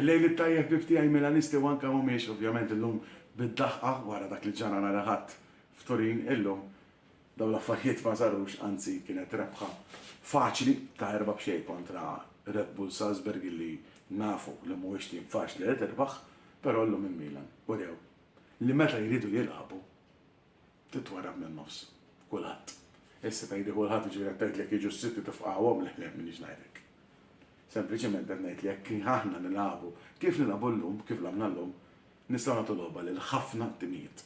Il-lejl it-tajjeb bib tiegħi Milanisti u anke mhumiex ovvjament illum bid-daħqa wara dak li ġara nhar il-Ħadd f'Turin illum dawn l-affarijiet ma sarux anzi kienet rebħa faċli ta' erba' b'xejn kontra Red Bull Salzburg illi nafu li mhuwiex tim faċli li tirbaħ però llum il-Milan urew li meta jridu jilagħbu Titwarrab min-nofs. Kulħadd. Issa tgħidli kulħadd jiġifieri qed tgħidlek jiġu s-sitt u tifqagħuhom le le m'iniex ngħid hekk. Sempliċiment qed ngħid li jekk aħna nilagħbu kif nilagħbu llum, kif lagħbna llum, nistgħu nagħtu logħba lil ħafna timijiet.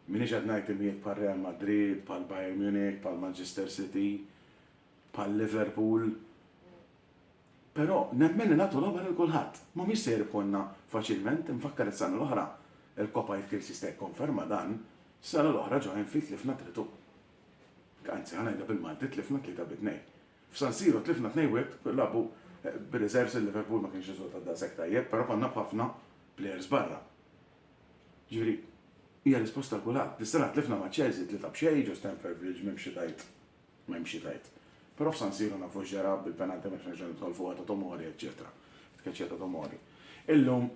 M'iniex qed ngħid timijiet bħal Real Madrid, bħal Bayern Munich, bħal Manchester City, bħal Liverpool, Però nemmen li nagħtu logħba lil kulħadd. Mhumiex se jirbħulna faċilment, infakkar is-sena l-oħra, il-Coppa Youth Kills jista' jikkonferma dan, s-sena l-oħra ġo Anfield tlifna tritù. Anzi, ħa ngħidha bil-Malti, tlifna tlieta bi tnejn. F'San Siro tlifna tnejn wieħed, lagħbu bir-reserves il-Liverpool ma kienx riżultat daqshekk tajjeb, però konna b'ħafna players barra. Jiġifieri, hija risposta għal kulħadd. Dis-sena tlifna ma' Chelsea tlieta b'xejn ġo Stamford Bridge m'hemm xi tgħid. M'hemm xi tgħid. Però f'San Siru nafu x'ġara bil-penalty m'hemmx nerġa' nidħol fuqha ta' Tomori eċċetera. Tkeċċija ta' Tomori. Illum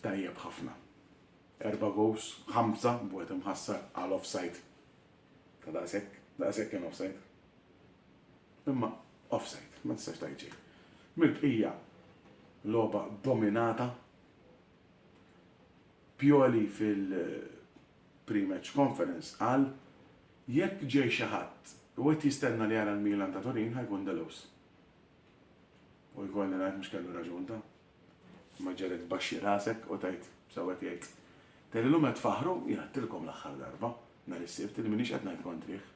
tajjeb ħafna. Erba' goals, ħamsa b'wieħed imħassar għal offside ta' daqshekk, daqshekk kien offside. Imma offside, ma tistax tgħid xejn. Mill-bqija logħba dominata Pioli fil- Pre-match conference qal, Jekk ġej xi ħadd u qed jistenna li jara l-Milan ta' Turin ħa jkun Deleuss. U jkolli ngħid mhux kellu raġun ta'. Imma ġġegħlek tbaxxi rasek u tgħid, sew qed jgħid. Tgħid li llum qed tfaħħru, jien għedtilkom l-aħħar darba, nhar is-Sibt, li m'iniex qed ngħid kontrih.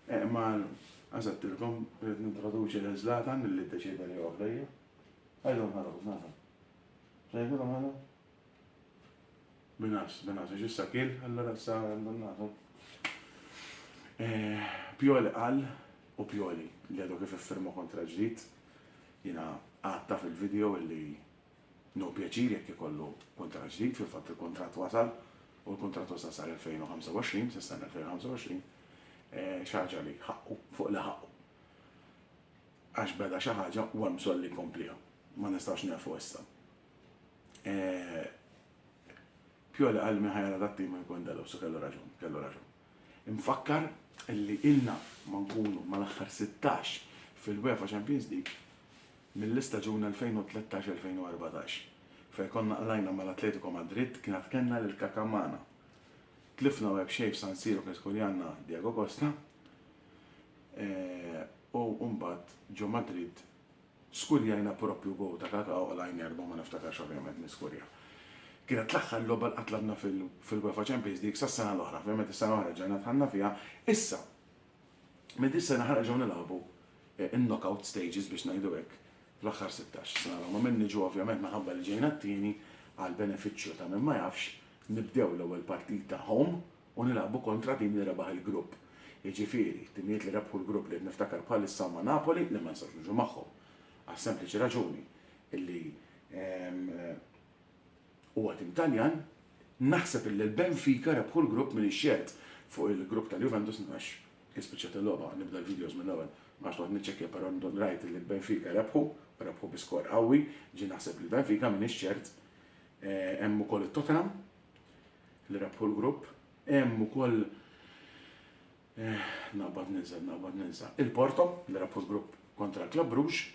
Eh, imma għax għedtilkom rrid nintroduċi lil Zlatan li ddeċieda li joqgħod lejja. Ħajdu nħarrok, Zlatan. X'ngħidilhom ħana? Minas, Minas, għax issa kiel, allura issa għandhom nagħtu. Pioli qal, u Pioli, li għadu kif iffirma kuntratt ġdid, jiena għadtha fil-video illi no pjaċir jekk ikollu kuntratt ġdid, fil-fatt il-kuntratt wasal u l-kuntratt wasal sal-2025, sas-sena 2025, xi ħaġa li ħaqqu, fuq li ħaqqu. Għax beda xi ħaġa u hemm bżonn li jkompliha. Ma nistgħux nieqfu issa. Pjoli qal min ħajara dat-tim ma jkun dalaw, so kellu raġun, kellu raġun. Infakkar li ilna ma nkunu mal-aħħar 16 fil-UEFA Champions League mill-istaġun 2013-2014 fejn konna qlajna mal-Atletico Madrid kien għad kellna lil Kaka magħna. Tlifna web xejn f'San Siro kien skurjanna Diego Costa u mbagħad ġo Madrid Skurjajna proprju gowl ta' Kaka oqla' għajn erbgħa ma niftakarx ovvjament min skurja. Kienet l-aħħar logħba li qatt lagħbna fil-UEFA Champions League sas-sena l-oħra, ovvjament is-sena l-oħra reġgħajna dħalna fiha, issa minn dis-sena ħanerġgħu nilagħbu in-knockout stages biex ngħidu hekk fl-aħħar sittax. Sena l-oħra ma minnix u ovvjament minħabba li ġejna t-tieni, għall-benefiċċju ta' min ma jafx, nibdew l-ewwel partita home, u nilagħbu kontra tim li rebaħ il-grupp, jiġifieri, timijiet li rebħu l-grupp li qed niftakar bħalissa huma Napoli li ma nistgħux niġu magħhom, għas-sempliċi raġuni li huwa tim Taljan, naħseb li l-Benfica rebħu l-grupp m'iniex ċert fuq il-grupp tal-Juventus għax kien spiċċat il-logħba, nibda l-videos mill-ewwel, ma nafx noqgħod niċċekkja però rajt li l-Benfica rebħu, rebħu bi skor qawwi, ġieli naħseb li l-Benfica m'iniex ċert, hemm ukoll it-Tottenham, l-Rapport Group, hemm ukoll naqbad ninsa, naqbad ninsa, il-Porto, l-Rapport Group kontra l-Club Bruges,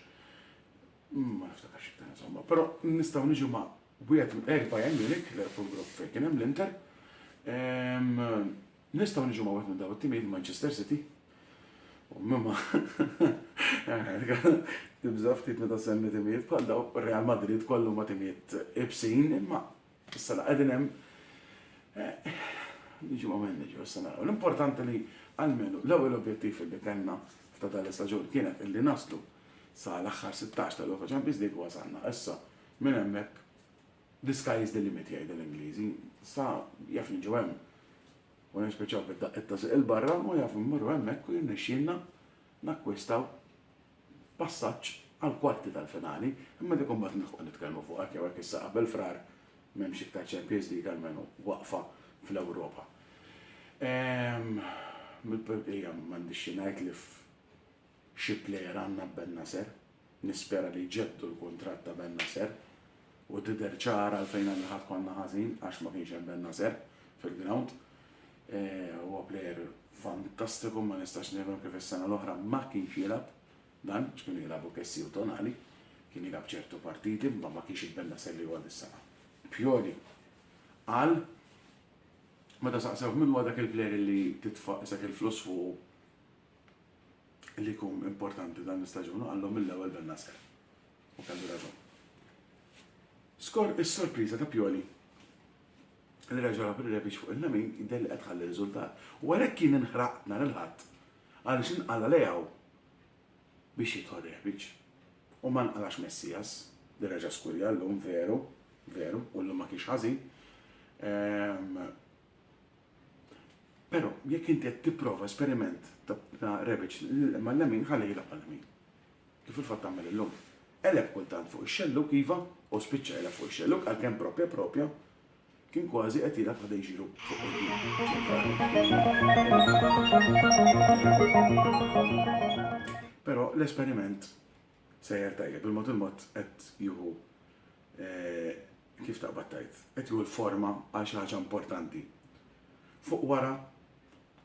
ma niftakarx iktar insomma, però nistgħu niġu ma' wieħed minn Bayern Munich, l-Rapport Group fejn kien hemm l-Inter, nistgħu niġu ma' wieħed minn dawn it-timijiet Manchester City, u mimma tibża' ftit meta semmi timijiet bħal dawn Real Madrid kollu ma' timijiet ibsin imma Issa la qegħdin hemm niġu ma' manager issa naraw. L-importanti li almenu l-ewwel objettiv li kellna f'ta' dan l-istaġun kienet illi naslu sa l-aħħar 16 ta' Europa Champions League u wasalna. Issa minn hemmhekk the sky is the limit jgħidu l-Ingliżi. Sa jaf niġu hemm u nispiċċaw bid-daqqiet ta' żiq il-barra u jaf immorru hemmhekk u jirnexxielna nakkwistaw passaġġ għall-kwarti tal-finali, imma dik imbagħad nilħqu nitkellmu fuqha hekk jew hekk issa qabel Frar m'hemmx iktar Champions League almenu waqfa fl-Ewropa. Mill-bqija m'għandix xi ngħid li f'xi plejer għandna b'Bennacer, nispera li jġeddu l-kuntratt ta' Bennacer u tidher ċara għalfejn aħna ħadd konna ħażin għax ma kienx hemm Bennacer fil-grawnd. Huwa plejer fantastiku, ma nistax nifhem kif is-sena l-oħra ma kienx jilgħab dan, għax kienu jilagħbu Kessie u Tonali. Kien jilgħab ċertu partiti, imma ma kienx il-Bennacer li huwa dis-sena. Pioli qal meta saqsewh min huwa dak il-plejer li titfa' isek il-flus fuqu li jkun importanti dan l-istaġun u qallhom mill-ewwel Bennacer. U kellu raġun. Skor is-sorpriża ta' Pioli li reġa' rab ir-rebix fuq il-lemin jidher li qed tħalli riżultat. U għalhekk jien inħraqt nhar il-Ħadd għaliex inqala' Leao biex jidħol Rebic. U ma nqalax Messias li reġa' skurja llum, veru, veru, u llum ma kienx ħażin. Però jekk inti qed tipprova esperiment ta' Rebic mal-lemin ħalli jilgħab għal-lemin. kif fil-fatt tagħmel illum. Qeleb kultant fuq ix-xellug, iva, u spiċċa qeleb fuq ix-xellug għalkemm propja propja kien kważi qed jilgħab ħa dejġilu fuq quddiem ċentrali. Però l-esperiment sejjer tajjeb, il-mod il-mod qed jieħu kif taqbad tajt, qed jieħu l-forma għal xi ħaġa importanti. Fuq wara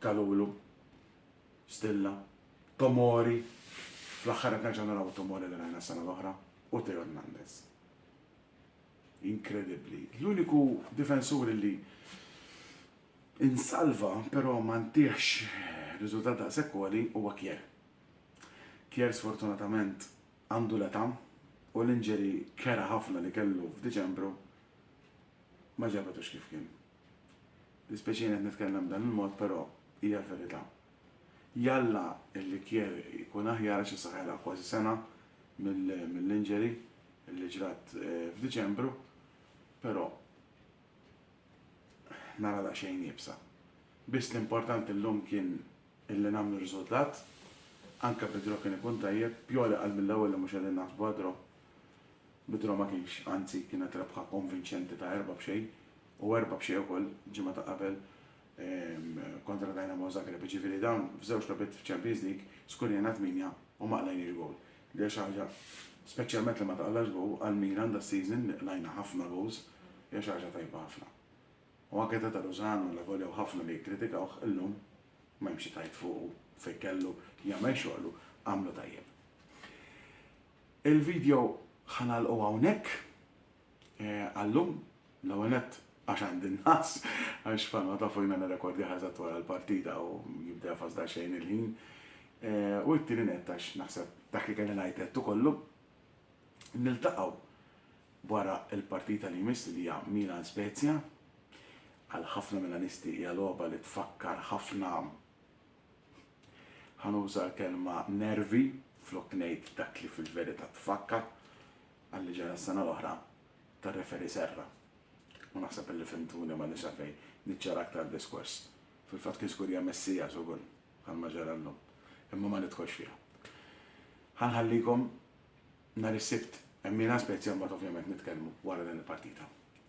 tal-ulu Stilla, Tomori, fl-aħħar qed nerġa' naraw it-Tomori li rajna s-sena l-oħra, u Theo Hernandez. Inkredibbli. L-uniku difensur illi insalva però ma ntiehx riżultat daqshekk għoli huwa Kjär. Kjär sfortunatament għandu l-età u l-injury kera ħafna li kellu f'Diċembru ma ġabetux kif kien. Dispjaċini qed nitkellem b'dan il-mod però hija l-verità. Jalla l-ikjer ikun aħjar għax issa ħajla kważi sena mill-injury li ġrat f'Diċembru però nara daqsxejn iebsa. Biss l-importanti llum kien illi nagħmlu riżultat, anke bi draw kien ikun tajjeb, Pioli qal mill-ewwel li mhux qegħdin naħsbu għad-draw. Bidra ma kienx, anzi kienet rebħa konvinċenti ta' erba' b'xejn u erba' b'xejn ukoll ġimgħa ta' qabel kontra Dynamo Zagreb, jiġifieri dawn f'żewġ logħbiet f'Champions League skurjajna tmienja u ma qlajniex gowl li hija xi ħaġa, speċjalment li ma taqlax gowl, għal Milan das-season li qlajna ħafna goals hija xi ħaġa tajba ħafna. U anke Tata Lozano allavolja hu ħafna li jikkritikawh, illum m'hemm xi tgħid fuqu fejn kellu jagħmel xoghlu, għamlu tajjeb. Il-video ħa nagħlqu hawnhekk għal-lum, l-ewwel nett għax għandi n-nagħas għax bħalma tafu jiena nirrekordjah eżatt wara l-partita u jibda jafas daqsxejn il-ħin u t-tieni nett għax naħseb dak li kelli ngħid għedtu kollu. Niltaqgħu wara l-partita li jmiss li hija Milan Spezia. Għal ħafna Milanisti hija logħba li tfakkar ħafna Ħa nuża l-kelma nervi flok ngħid dak li fil-verità tfakka għal li ġara s-sena l-oħra tar-referee Serra. U naħseb li fhimtuni m'għandix għalfejn niċċara aktar diskors. Fil-fatt kien żgur hija messija żugur għal ma ġara llum. Imma ma nidħolx fiha. Ħa nħallikom nhar is-Sibt. Hemm Milan Spezia mbagħad ovvjament nitkellmu wara din il-partita.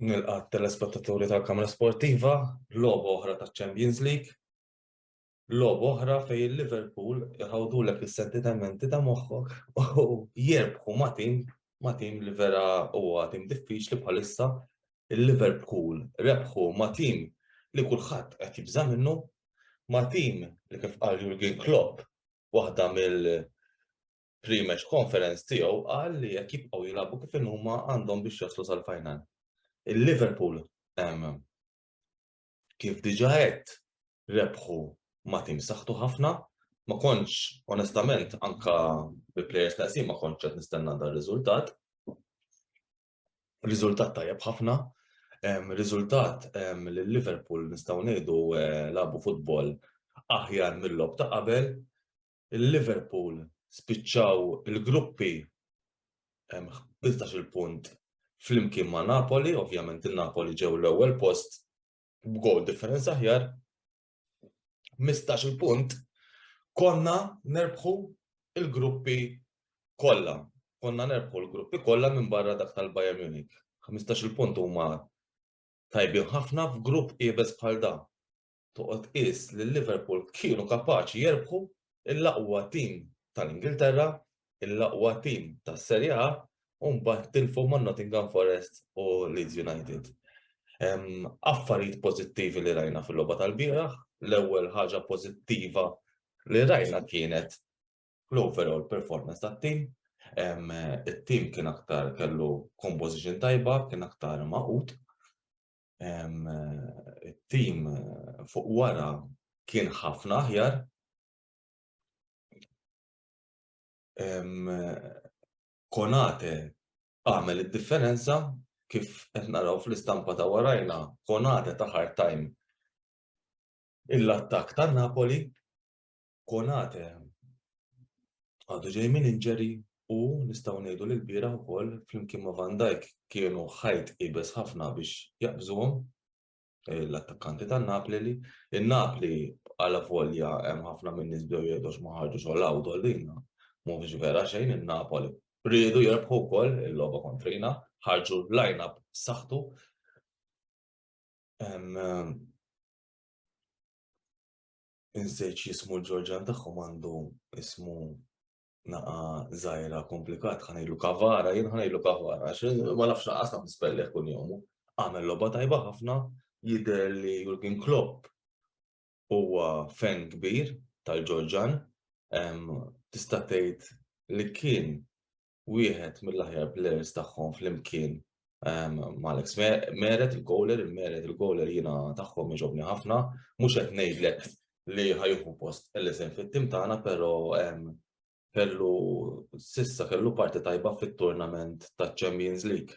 Nilqat telespettaturi tal-Kamra Sportiva, lob oħra ta' Champions League. Logħba oħra fejn Liverpool iħawdulek is-sentitementi ta' moħħok u jirbħu ma' tim ma' tim li vera huwa tim diffiċli bħalissa. Il-Liverpool rebħu ma' tim li kulħadd qed jibża' minnu, ma' tim li kif qal Jurgen Klopp waħda mill pre-match conference tiegħu qal li jekk jibqgħu jilagħbu kif inhuma għandhom biex jaslu sal-final. Il-Liverpool Kif diġà għedt, rebħu ma' tim saħtu ħafna, ma kontx onestament anke bi plejers neqsin ma kontx qed nistenna dan riżultat. Riżultat tajjeb ħafna, riżultat li Liverpool nistgħu ngħidu labu futbol aħjar mill-logħob ta' qabel, il-Liverpool spiċċaw il-gruppi b'iltax-il punt flimkien ma' Napoli, ovvjament in-Napoli ġew l-ewwel post b'gowl differenza aħjar, b'mistax-il punt konna nerbħu l-gruppi kollha. Konna nerbħu l-gruppi kollha minbarra dak tal-Bayern Munich. B'mistax-il punt huma tajbin ħafna f'grupp iebes bħal dan. Toqgħod tqis li Liverpool kienu kapaċi jerbħu l-aqwa tim tal-Ingilterra, l-aqwa tim tas-Serie A u mbagħad tilfu ma' Nottingham Forest u Leeds United. Affarijiet pożittivi li rajna fil-logħba tal-bieraħ, l-ewwel ħaġa pożittiva li rajna kienet l-overall performance tat-tim. It-tim kien aktar kellu composition tajba, kien aktar maqut. it-tim fuq wara kien ħafna aħjar. Konate għamel id-differenza kif qed naraw fl-istampa ta' warajna, Konate ta' hard time il-attak ta' Napoli Konate għadu ġej minn injury u nistgħu ngħidu li lbieraħ ukoll flimkien ma' Van Dijk kienu ħajt iebes ħafna biex jaqbżuhom l-attakkanti ta' Napli li in-Napli għala volja hemm ħafna minn nies bdew jgħidu ma ħarġux għal Awdo lina mhux vera xejn in-Napoli riedu jirbħu wkoll il-logħba kontrina, ħarġu line-up saħtu. Inżejġ jismu l-Ġorġan tagħhom għandu ismu naqa zaħira komplikat, ħanajlu kavara, jien ħanajlu kavara, ma nafx naqas naf nispelli kun jomu. Għamel loba tajba ħafna, jider li Jurgen Klopp huwa fen kbir tal-Ġorġan, tista' tgħid li kien wieħed mill-aħjar players tagħhom flimkien ehm, Malex Meret il-goaler, il-Meret il-goaler jiena tagħhom iġobni ħafna, mhux qed ngħidlek li ħajħu post l-isem fit-tim tagħna, però ehm, kellu sissa kellu parti tajba fit-turnament ta' Champions League.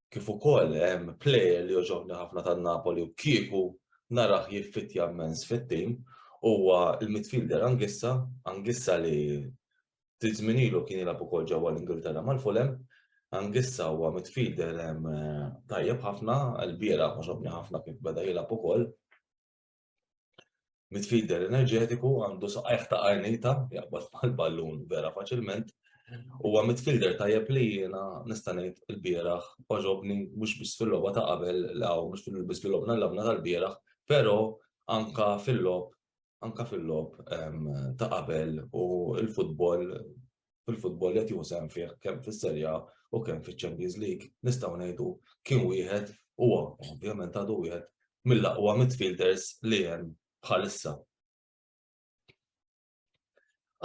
Kif ukoll hemm ehm, player li joġobni ħafna tan Napoli u kieku naraħ jiffitja mens fit-tim huwa il-midfielder Angissa, Angissa li Ftit żmien ilu kien jilgħab ukoll ġewwa l-Ingilterra mal-Fulham. Angissa huwa midfielder tajjeb ħafna, l-biera ħoġobni ħafna kif beda jilgħab ukoll. Midfielder enerġetiku għandu saqajh ta' qarnita jaqbad mal-ballun vera faċilment. Huwa midfielder tajjeb li jiena nista' ngħid il-bieraħ ħoġobni mhux biss fil-logħba ta' qabel law mhux biss fil-logħba tal-logħba tal-bieraħ, però anka fil-logħob anke fil-logħob ta' qabel u l-futbol fil-futbol li qed jieħu sehem fih kemm fis-Serie A u kemm fiċ-Champions League nistgħu ngħidu kien wieħed huwa ovvjament għadu wieħed mill-aqwa midfielders li hemm bħalissa.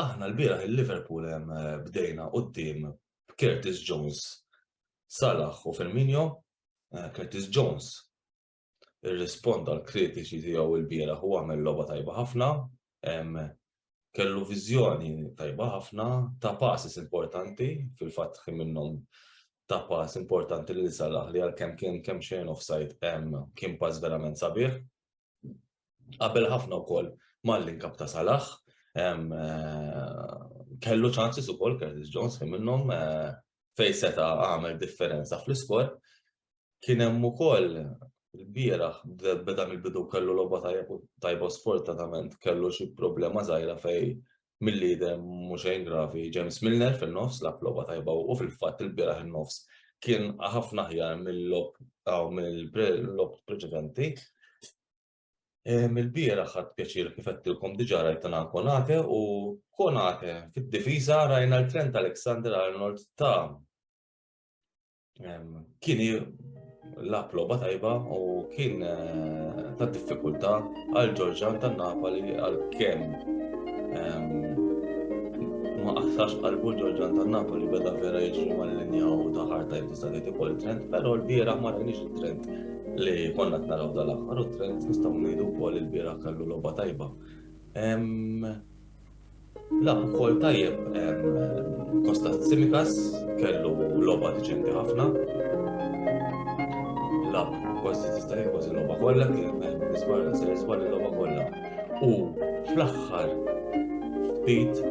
Aħna l-bieraħ il-Liverpool hemm bdejna quddiem Curtis Jones, Salah u Firmino, Curtis Jones irrisponda l-kritiċi tiegħu l-bieraħ u għamel logħba tajba ħafna, kellu viżjoni tajba ħafna ta' passes importanti, fil-fatt kien minnhom ta' pass importanti li salaħ li għal kemm kien kemm xejn offside kien pass verament sabiħ. Qabel ħafna wkoll mal-linkap ta' salaħ, kellu ċansis ukoll Curtis Jones kien minnhom fejn seta' għamel differenza fl-iskor, Kien hemm ukoll il-bieraħ beda mill-bidu kellu logħba tajba sfortunatament kellu xi problema żgħira fej mill-lider mhux xejn gravi James Milner fin-nofs lab logħba tajba u fil-fatt il-bieraħ in-nofs kien ħafna ħjar mill-lob aw mill-lob preċedenti. Mill-bieraħ ħadd pjaċir kif qedtilkom diġà rajtana Konate u Konate fid-difiża rajna l-Trent Alexander Arnold ta' kien lab logħba tajba u kien eh, ta' diffikultà għal Ġorġan tan Napoli għal kemm ma qaħsax qalbu Ġorġan tan Napoli beda vera jiġri mal-linja u ta' ħarta jibdisa li tikol trend, però l-bieraħ ma rajniex trend li konna t-naraw dal-aħħar u trend nistgħu ngħidu wkoll il-bieraħ kellu logħba tajba. Lagħab ukoll tajjeb Kostas Tsimikas, kellu logħba diċenti ħafna. Lagħab kważi tista' jien kważi logħba kollha kien nisbar se nisbar logħba kollha. U fl-aħħar ftit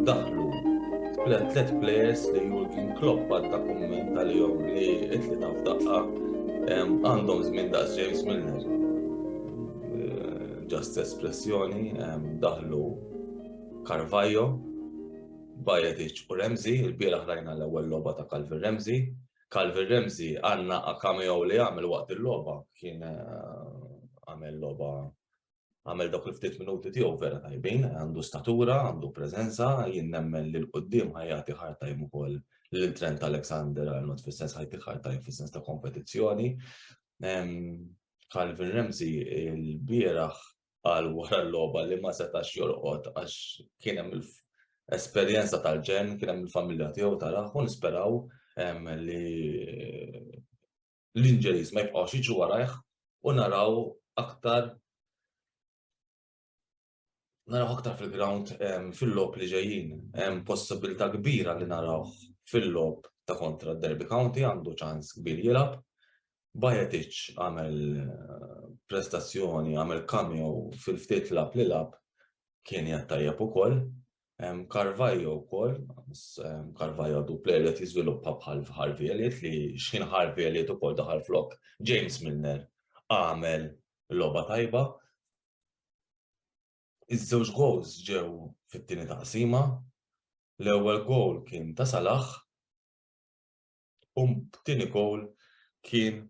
daħlu tlet players li Jurgen Klopp għadda kumment għalihom li itli taf daqqa għandhom żmien daqs James Milner. Ġast espressjoni daħlu Carvajo, Bajadic u Remzi, il-bieraħ rajna l-ewwel logħba ta' Calvin Remzi. Calvin Remzi għandna cameo li għamel waqt il-logħba kien eh, għamel logħba għamel dawk il-ftit minuti tiegħu vera tajbin, għandu statura, għandu preżenza, jien nemmen li l-qudiem ħajjati ħartajm ukoll lil Trent Alexander Arnold fis-sens ħajti ħartajm fis-sens ta' kompetizzjoni. Calvin Ramsey il-bieraħ għal wara l-logħba li ma setax jorqod għax kien hemm esperjenza tal-ġen, kien hemm il-familja tiegħu taraħ u nisperaw li l-inġeris ma jibqgħux jiġu warajh u naraw aktar naraw aktar fil-ground fil-lob li ġejjin. Hemm possibilità kbira li naraw fil-lob ta' kontra Derby County għandu ċans kbir jilab. Bajetic għamel eh, prestazzjoni, għamel kamju fil-ftit lab li lab kien jattajab u koll. Carvajo u koll, Carvajo du player li jizviluppa bħal Harvey Elliot li xħin Harvey Elliot u koll daħal flok James Milner għamel loba tajba Iż-żewġ gowls ġew fit-tieni taqsima, l-ewwel gowl kien ta' Salah u t-tieni gowl kien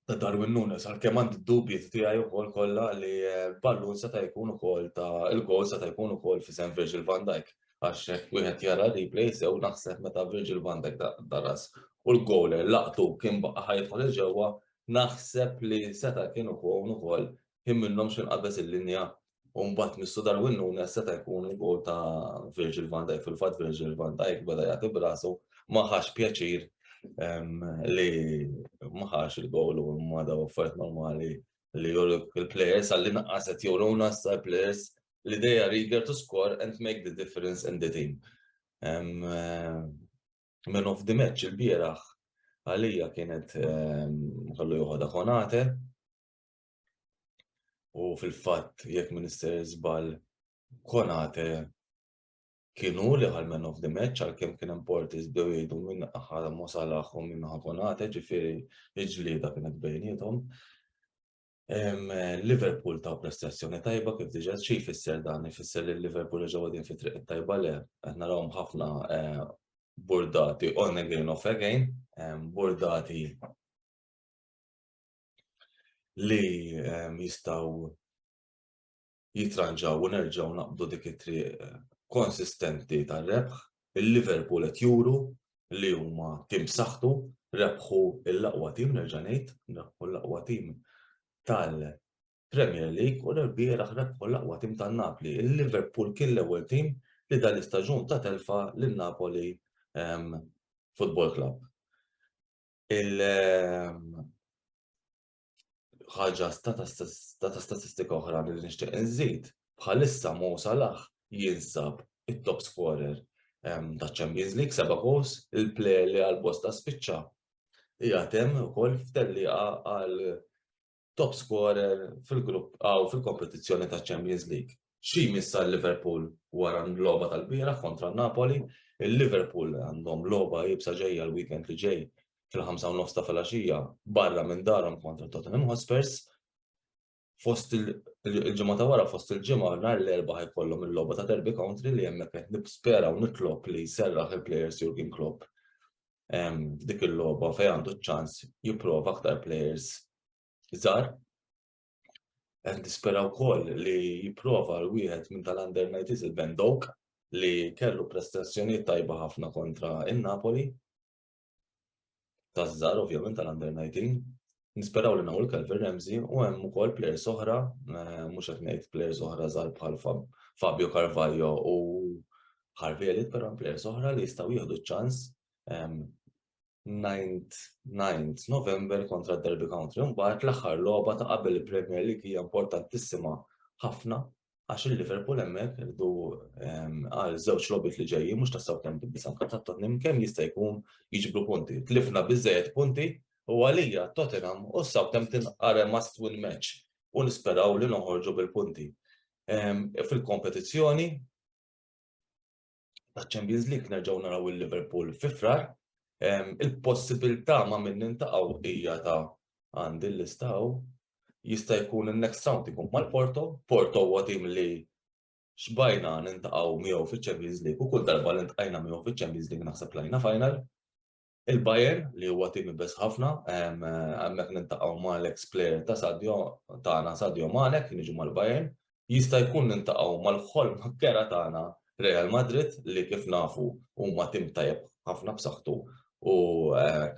ta' Darwin Nunes, għalkemm għandi d-dubji tiegħi wkoll kollha li eh, ballun seta' jkun ukoll ta' il-gol seta' jkun ukoll fi sem Virgil van Dijk għax hekk wieħed jara replay sew naħseb meta Virgil van Dijk daras u l-goler laqtu kien baqa' ħajtħol il-ġewwa Naħseb li seta' kien ikun ukoll kien minnhom xi nqabeż il-linja u mbagħad Mistu Darwin Nunez seta' jkun il-goal ta' Virgil van Dijk. Fil-fatt Virgil van Dijk beda jagħti b'rasu ma ħax pjaċir li ma ħax il-goal u ma daw affarijiet normali li juruk il-players għall-inqas qed juruna issa players li they are eager to score and make the difference in the team. Man of the match il-bieraħ għalija kienet ehm, kollu joħodha konate. U fil-fatt jekk Minister Zbal konate kienu li għal man of the match għal kem kien importi zbew jgħidu minn ħala mosalaħ u minn konate ġifiri iġlida kienet bejnietom. Liverpool ta' prestazzjoni tajba kif diġa xi jfisser dan, jfisser li Liverpool reġgħu għadin fi triq tajba le, qed narawhom ħafna eh, burdati on again off again, burdati li jistaw jitranġaw u nerġgħu naqbdu dik it-triq konsistenti tar-rebħ. Il-Liverpool qed juru li huma tim b'saħħtu, rebħu l-aqwa tim, nerġa' ngħid, rebħu l-aqwa tim tal-Premier League u l-erbieraħ rebħu l-aqwa tim tan-Napli. Il-Liverpool kien l-ewwel tim li dan l-istaġun ta' telfa lil Napoli ehm, Football Club. Il- ehm, ħaġa ta' statistika oħra li nixtieq inżid, bħalissa Mo Salah jinsab it-top scorer ta' Champions League, seba' goals, il-player li għal bosta spiċċa hija temm ukoll f'tellieqa għal top scorer fil-grupp għaw fil-kompetizzjoni ta' Champions League. Xi jmiss għal Liverpool wara l-logħba tal-bieraħ kontra Napoli, il-Liverpool għandhom logħba iebsa ġejja l-weekend li ġej fil-ħamsa u nofs ta' filgħaxija barra minn darhom kontra Tottenham Hotspurs. Fost il-ġimgħa ta' wara fost il-ġimgħa nhar l-erba' jkollhom il-logħba ta' Derby Country li hemmhekk qed nispera u nitlob li jserraħ il-players Jurgen Klopp dik il-logħba fejn għandu ċ-ċans jipprova aktar players żgħar Qed nispera wkoll li jipprova l-wieħed minn tal-under 90s il-Ben Doak li kellu prestazzjonijiet tajba ħafna kontra in-Napoli. Taż-żgħar ovvjament tal-under 19. Nisperaw li nawl Calvin Ramsey u hemm ukoll players oħra, eh, mhux qed ngħid players oħra żgħar bħal Fabio Carvalho u Harvey Elliott, però players oħra li jistgħu jieħdu ċ-ċans ehm, 9th, 9th November kontra Derby County. Mbagħad l-aħħar logħba ta' qabel il-Premier League hija importantissima ħafna għax il-Liverpool hemmhekk irdu ehm, għal żewġ logħbiet li ġejjin mhux ta' Southampton biss anke ta' Tottenham kemm jista' jkun jiġbru punti. Tlifna biżejjed punti u għalija Tottenham u Southampton are must win match u nisperaw li noħorġu bil-punti. Ehm, fil-kompetizzjoni ta' Champions League nerġgħu naraw il-Liverpool fi frar. Il-possibilità ma' minn nintaqgħu hija ta' għandi l-istaw jista' jkun il-next round ikun mal-Porto, Porto huwa tim li xbajna nintaqgħu miegħu fiċ-Champions League u kull darba li ntqajna miegħu fiċ-Champions League naħseb lajna final. Il-Bayern li huwa tim ibes ħafna, hemmhekk niltaqgħu ma' l-eks player ta' Sadio tagħna Sadio Mane kien jiġi mal-Bayern, jista' jkun niltaqgħu mal-ħolm kera tagħna Real Madrid li kif nafu huma tim tajjeb ħafna b'saħħtu u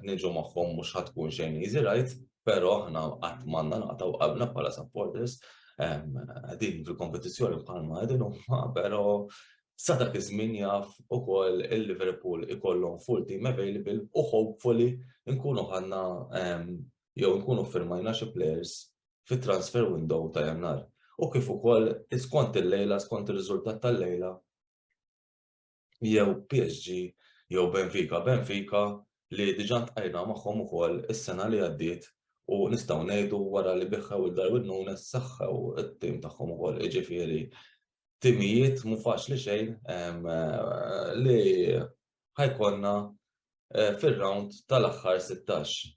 niġu magħhom mhux ħa tkun xejn easy ride, però aħna qatt m'għandna naqtgħu qalbna bħala supporters qegħdin fil-kompetizzjoni bħalma qegħdin huma, però Sa dak iż-żmien jaf ukoll il-Liverpool ikollhom full team available u hopefully nkunu ħadna jew nkunu ffirmajna xi players fit-transfer window ta' Jannar. U kif ukoll skont il-lejla, skont ir-riżultat tal-lejla, jew PSG jew Benfica. Benfica li diġà ntqajna magħhom ukoll is-sena li għaddiet u nistgħu ngħidu wara li biħħew il-Darwin Nunes saħħew it-tim tagħhom ukoll, jiġifieri timijiet mhu faċli xejn li ħajkonna eh, fir-round tal-aħħar 16.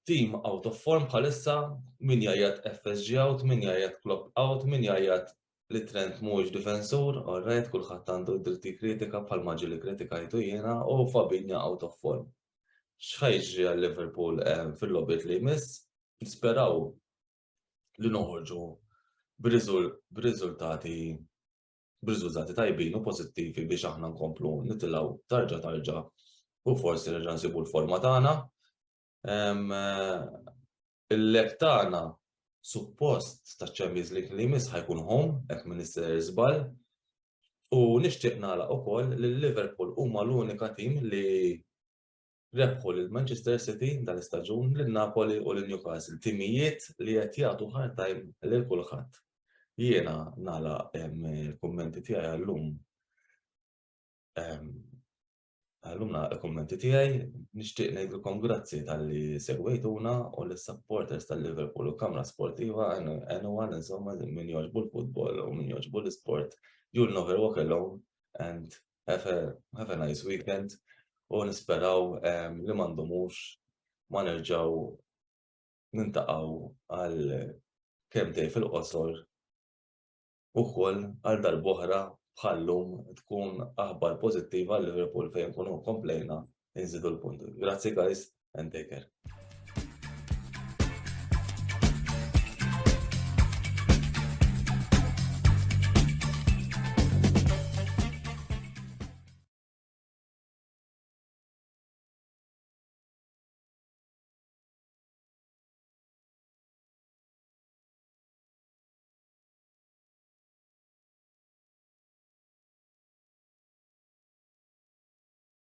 Team out of form bħalissa min jajjat FSG out, min jajjat Klopp out, min jajjat li Trent mhuwiex difensur, orrejt kulħadd għandu dritti kritika bħal maġi li kritikajtu jiena u Fabinja out of form. X'ħajġri għal Liverpool eh, fil-lobit li jmiss, nisperaw li noħorġu b'riżultati b'riżultati tajbin u pożittivi biex aħna nkomplu nitilgħu tarġa tarġa u forsi nerġa' nsibu l-forma tagħna. Il-lek tagħna suppost ta' ċemmiz li li mis ħajkun home, ek minister zbal, u nishtiq nala u koll li Liverpool huma l-unika tim li rebħu lil Manchester City dal-istaġun, lil Napoli u lil Newcastle, timijiet li qed jagħtu hard time lil kulħadd. Jiena nagħlaq il-kummenti tiegħi għallum. Għallum nagħlaq il-kummenti tiegħi, nixtieq ngħidilkom grazzi tal-li segwejtuna u l supporters tal-Liverpool u Kamra Sportiva għenu għal insomma min joġbu l-futbol u min joġbu l-sport. You'll never walk alone and Have a, have a nice weekend u nisperaw um, li mandumux ma nerġaw nintaqaw għal kem tej fil-qosor u koll għal darboħra bħallum tkun aħbar pozittiva għal Liverpool fejn kunu komplejna inżidu l-punt. Grazzi guys and take care.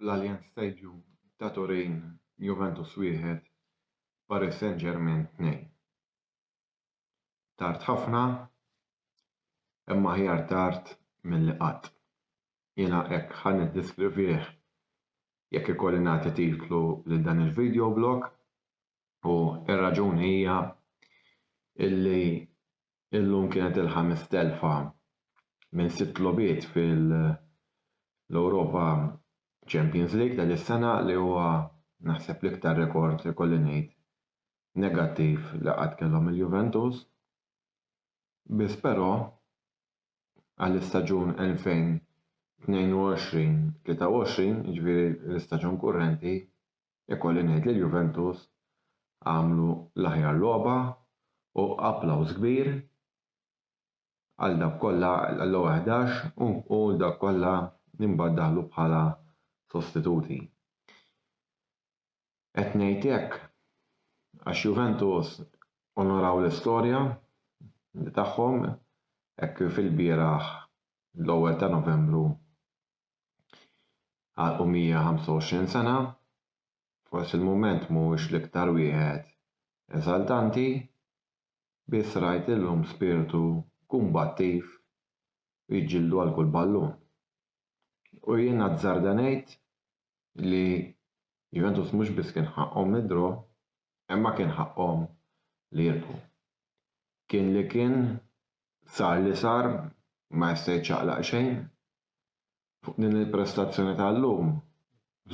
L-Allianz Stadium ta' Turin Juventus wieħed, Paris Saint-Germain tnejn. Tard ħafna, imma aħjar tard milli qatt. Jiena hekk ħa niddiskrivih jekk ikolli nagħti titlu lil dan il-videoblog u r-raġuni hija illi illum kienet il-ħames telfa minn sitt logħbiet fil-Europa Champions League ta' dis-sena li huwa naħseb l-iktar rekord ikolli ngħid negattiv li qatt kellhom il-Juventus, biss però għall-istaġun 2022-23, jiġifieri l-istaġun kurrenti, ikolli ngħid li l-Juventus għamlu l-aħjar logħba u applawż kbir għal dawk kollha għall-ewwel ħdax u dawk kollha li mbagħad daħlu bħala sostituti. Qed ngħid hekk għax Juventus onoraw l-istorja tagħhom hekk kif ilbieraħ l-ewwel ta' Novembru għalqu 125 sena. Forsi l-mument mhuwiex l-iktar wieħed eżaltanti, biss rajt illum spirtu kumbattiv u jġildu għal kull ballun. U jien azzarda ngħid li Juventus mhux biss kien ħaqqhom id-draw imma kien ħaqqhom li jirbħu. Kien li kien sar li sar ma jista' jiċċaqlaq xejn. Fuq din il-prestazzjoni tal-lum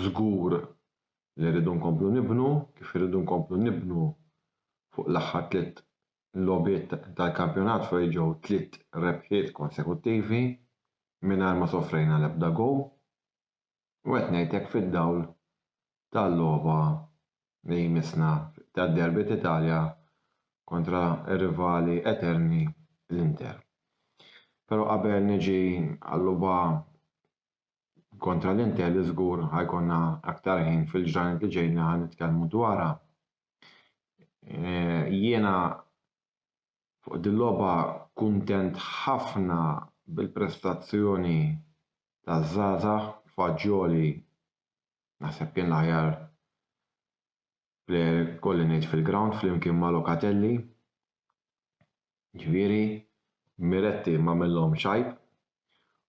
żgur li rridu nkomplu nibnu kif irridu nkomplu nibnu fuq l-aħħar tliet logħbiet tal-kampjonat fejn ġew tliet rebħiet konsekuttivi mingħajr ma sofrejna l-ebda gowl. U qed ngħid hekk fid-dawl tal-logħba li jmissna tad-derby t'Italja kontra r-rivali eterni l-Inter. Però qabel niġi għal-logħba kontra l-Inter li żgur ħa jkollna aktar ħin fil-ġranet li ġejjin li ħa nitkellmu dwarha, jiena Fuq dil-logħba kuntent ħafna bil-prestazzjoni taż-żgħażagħ, Fagioli naħseb kien l-aħjar plejer ikolli ngħid fil-grawnd flimkien ma' Locatelli. Ġifieri Miretti m'għamillhomx għajb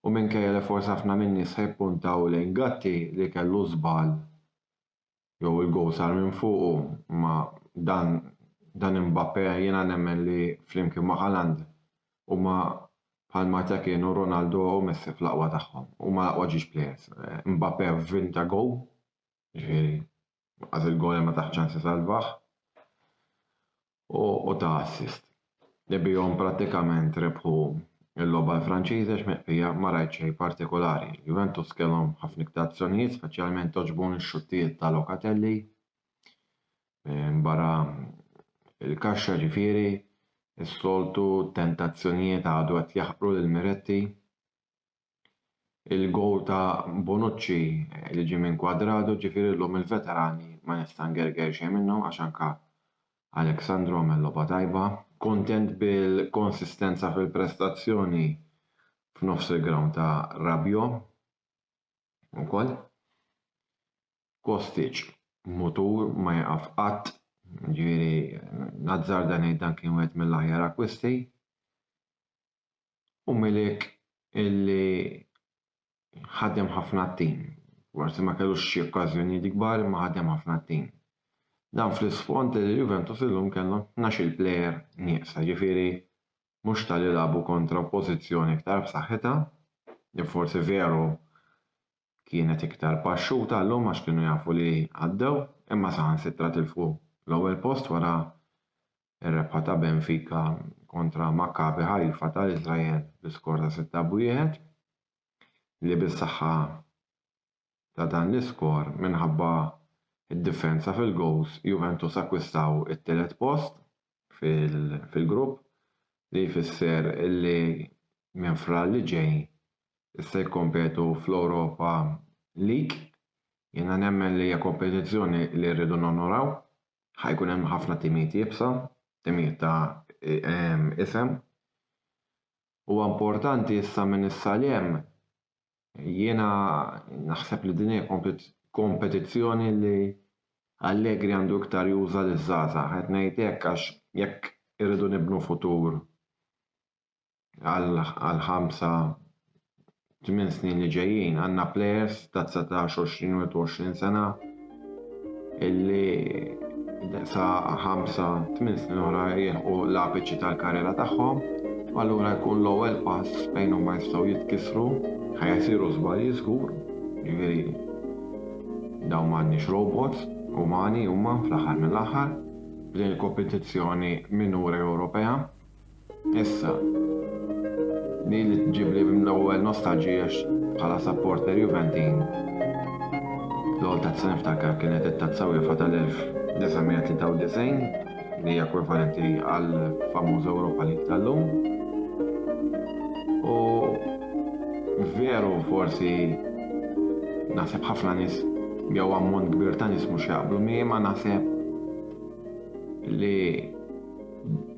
u minkejja li forsi ħafna min-nies ħa jippuntaw lejn Gatti li kellu żball jew il-gowl sar minn fuqu, imma dan dan Imbappe jiena nemmen li flimkien ma' Haaland huma bħal meta kienu Ronaldo u Messi fl-aqwa tagħhom. Huma l-aqwa ġiex plejers. Imbappe win ta' gowl, jiġifieri qas il-goal imma taħt ċans isalvah. u ta assist li bihom prattikament rebħu l-logħba l-Franċiżi għax mill-bqija ma rajt xejn partikolari. Juventus kellhom ħafna iktar azzjonijiet speċjalment għoġbuni x-xuttijiet ta' Locatelli minn barra l-kaxxa ġifieri s-soltu tentazzjonijiet għadu qed jaħqru lil Miretti il-gowl ta' Bonucci li ġie minn Cuadrado, ġifieri llum il-veterani ma nista' ngerger xejn minnhom għax anke Alex Sandro għamel logħba tajba. Kuntent bil-konsistenza fil-prestazzjoni f'nofs il-ground ta' Rabiot ukoll. Kostic mutur ma jieqaf qatt, ġifieri nazzarda ngħid dan kien wieħed mill-aħjar akkwisti. u Milik illi ħadem ħafna t-tim. Forsi ma kellux xi okkażjonijiet kbar imma ħadem ħafna t-tim. Dan fl-isfond li l-Juventus illum kellhom tnax-il plejer nieqsa, jiġifieri mhux ta' li lagħbu kontra oppożizzjoni iktar b'saħħitha, li forsi veru kienet iktar paxxuta llum għax kienu jafu li għaddew imma saħansitra tilfu l-ewwel post wara r-rebħa ta' Benfica kontra Maccabi Haifa tal-Iżrael bi skor ta' sitta b'wieħed li bis-saħħa ta' dan l-iskor minħabba d-differenza fil-gowls Juventus akkwistaw it-tielet post fil-grupp li jfisser li minn Frar li ġej se jikkompetu fl-Europa League. Jiena nemmen li hija kompetizzjoni li rridu nonoraw. Ħa jkun hemm ħafna timijiet iebsa, timijiet ta' isem. Huwa importanti issa minn issa 'l hemm Jiena naħseb li din hija kompetizzjoni li Allegri għandu iktar juża liż-żgħażagħ. Qed ngħid hekk għax jekk irridu nibnu futur għal ħamsa tmien snin li ġejjin għandna plejers ta' dsatax, għoxrin u għoxrin sena. illi sa 5-8 snin oħra jilħqu l-apiċi tal-karriera tagħhom, u allura jkun l-ewwel pass fejn huma jistgħu jitkissru, ħajsiru żbalji żgur, jiġifieri dawn m'għandniex robots, umani huma fl-aħħar mill-aħħar, f'din il-kompetizzjoni minuri Ewropea. Issa, li li tġibli mill-ewwel nostalġija bħala supporter Juventin. L-għol tazza niftakar kienet it-tazza UEFA tal-1993 li hija ekwivalenti għal famuż Ewropa li tal-lum. U veru forsi naħseb ħafna nies jew ammont kbir ta' nies mhux jaqblu miegħi ma naħseb li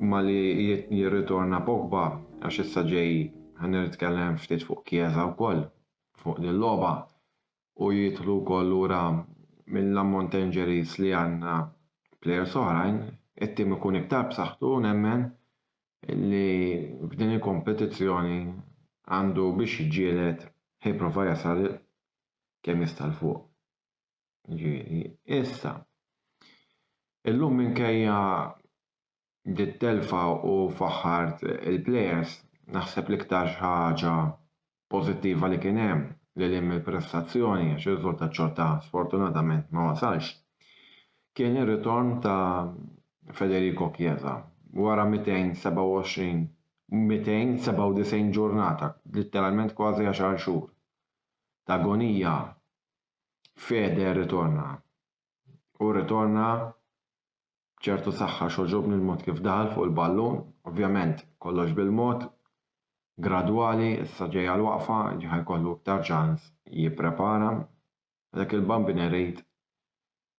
Imma li jirritorna Pogba għax issa ġej ħa nitkellem ftit fuq Chiesa wkoll fuq din logħba u jidħlu wkoll lura mill-ammont ta' injuries li għandna plejers oħrajn, it-tim ikun iktar b'saħħtu u nemmen li f'din il-kompetizzjoni għandu biex jiġġieled ħa jipprova jasal kemm jista' 'l fuq. Ġifieri, issa, illum minkejja dit telfa u faħħart il-plejers, naħseb l-iktar xi ħaġa pożittiva li kien hemm, lil hinn mill-prestazzjoni għax ir-riżultat xorta sfortunatament ma wasalx, kien ir-ritorn ta' Federico Chiesa wara 227 297 ġurnata, litteralment kważi għaxar xhur, ta' agonija Fede rritorna. U rritorna b'ċertu saħħa xogħġobni l-mod kif daħal fuq il-ballun, ovvjament kollox bil-mod, gradwali, issa ġejja l-waqfa, ġi ħa jkollu iktar ċans jipprepara. Dak il-Bambin irid,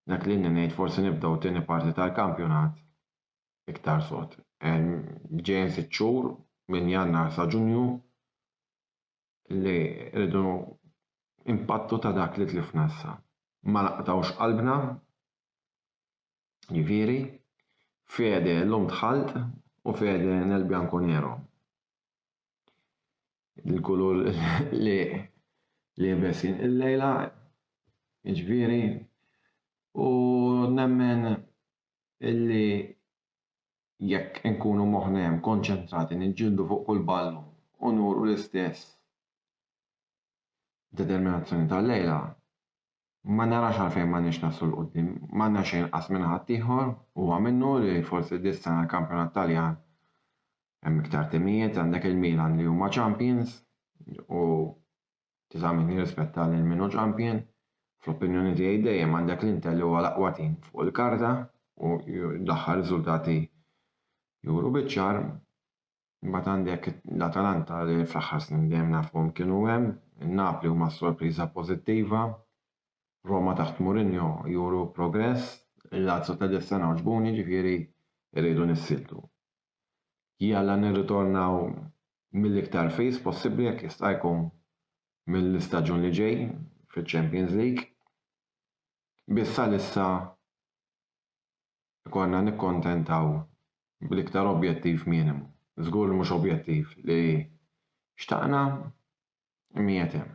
dak li inni ngħid forsi nibdew it-tieni parti tal-kampjonat iktar sod. Ġejjin sitt xhur minn Jannar sa Ġunju li rridu impattu ta' dak li tlifna issa. Ma naqtgħux qalbna, jiġifieri, fede llum dħalt u fede nel bianco nero. Il-kulur li liebes jien illejla, jiġifieri, u nemmen illi jekk inkunu moħħna hemm konċentrati niġġieldu fuq kull ballun u nuru l-istess determinazzjoni tal-lejla, ma narax għalfejn m'għandniex naslu 'l quddiem. M'għandna xejn inqas minn ħaddieħor, huwa minnu li forsi dis-sena l-kampjonat Taljan hemm iktar timijiet, għandek il-Milan li huma champions u Ti ta' min jirrispetta lil min hu champion. Fl-opinjoni tiegħi dejjem għandek l-Inter li huwa l-aqwa tim fuq il-karta u l-aħħar riżultati juru biċ-ċar. Imbagħad għandek l-Atalanta li fl-aħħar snin dejjem nafuhom kienu hemm. In-Napli huma s-sorpriża pożittiva. Roma taħt Mourinho juru progress. Il-Lazio ta' dis-sena għoġbuni, ġifieri rridu nissieltu. Jalla nirritornaw mill-iktar fis possibbli jekk jista' jkun mill-istaġun li ġej fiċ-Champions League. Biss għalissa jkollna nikkuntentaw bl-iktar objettiv minimu. Żgur li mhux objettiv li xtaqna miegħed hemm.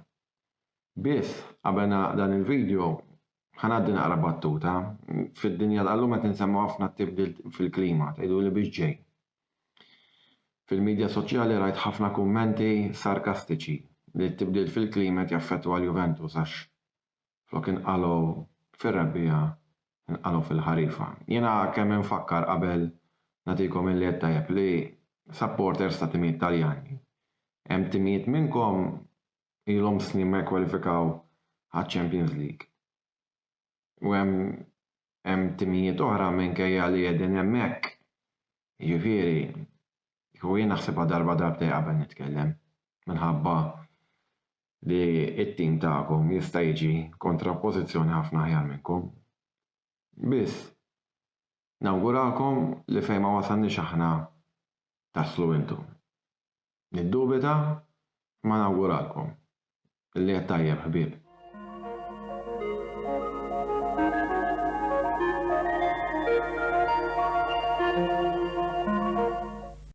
Biss, qabel nagħlaq dan il-video, ħa ngħaddi naqra battuta. Fid-dinja tal-lum qed insemmu ħafna t-tibdil fil-klima, tgħiduli biex ġej. Fil-midja soċjali rajt ħafna kummenti sarkastiċi li t-tibdil fil-klima qed jaffettwa l-Juventus għax flok inqalgħu fir-rebbiegħa inqalgħu fil-ħarifa. Jiena kemm infakkar qabel nagħtikom illi għedt tajjeb li supporters ta' timijiet Taljani. Hemm timijiet minnkom ilhom snin ma jikkwalifikaw għaċ-Champions League. U hemm hemm timijiet oħra minkejja li qegħdin hemmhekk. Jiġifieri, u jien naħsibha darba darbtej qabel nitkellem minħabba li t-tim tagħkom jista' jiġi kontra oppożizzjoni ħafna aħjar minnkom. Biss, nawgurakom li fejn ma wasalniex aħna taslu intom. Niddubita imma nawguralkom li qed tajjeb ħbieb.